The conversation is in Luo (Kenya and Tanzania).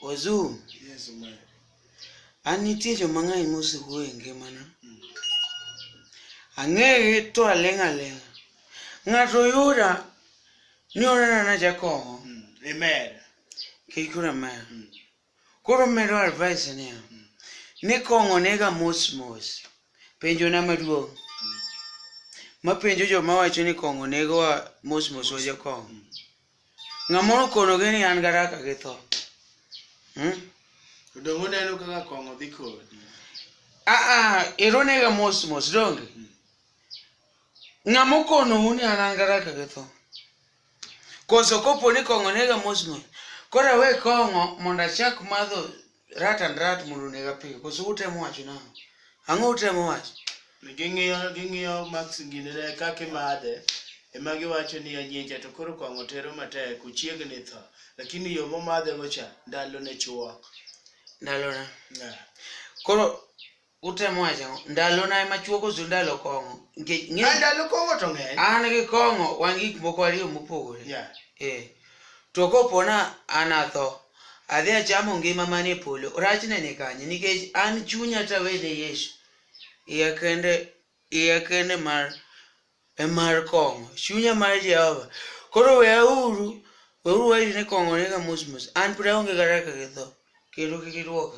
Wazuu, yes, an nitie joma ng'eny mosewuo e ngimana. Mm. Ang'eye to aling' aling'. Ng'ato yuda ni onena na jakong'o. Mm. Amen. Kik ura amen. Mm. Koro medo advice niya, ni kong'o nega mos mos. Penjo na maduong'. Mapenjo joma wacho ni kong'o negowa mos mos wa jokong'o. Ng'amoro konogi ni an garaka gi tho. Hmm? To donge uneno kaka kong'o dhi kodi? Ah ah, ero nega mos mos donge? Ng'amokonou ni an an garaka gi tho. Koso kopo ni kong'o nega mos mos, koro awe kong'o mondo achak madho rat and rat mondo onega piyo. Koso utemo wacho nang'o? Ang'o utemo wacho? Ging'iyo ging'iyo max gine ne kaka imadhe ema giwacho ni anyienja to koro kong'o tero matek ochiegni tho lakini yo momadhego cha ndalo ne chuok. Ndalona. Yeah. Koro Utemo wacho ang'o? Ndalona ema chwo koso ndalo kong'o? Nikech ng'e- Ah, ndalo kong'o to ng'eny an gi kong'o wan gik moko ariyo mopogore. Yeah. Eh. To kopona an atho, adhi achamo ngima man e polo. Rachne ni kanye? Nikech an chunya tawene Yesu. Iya kende, iya kende mar e mar kong'o. Chunya mar Jehova. Koro weauru, weuru wairi ni kong'o nega mos mos. An pud aonge kata kaka githo. Kendo kik iduoka.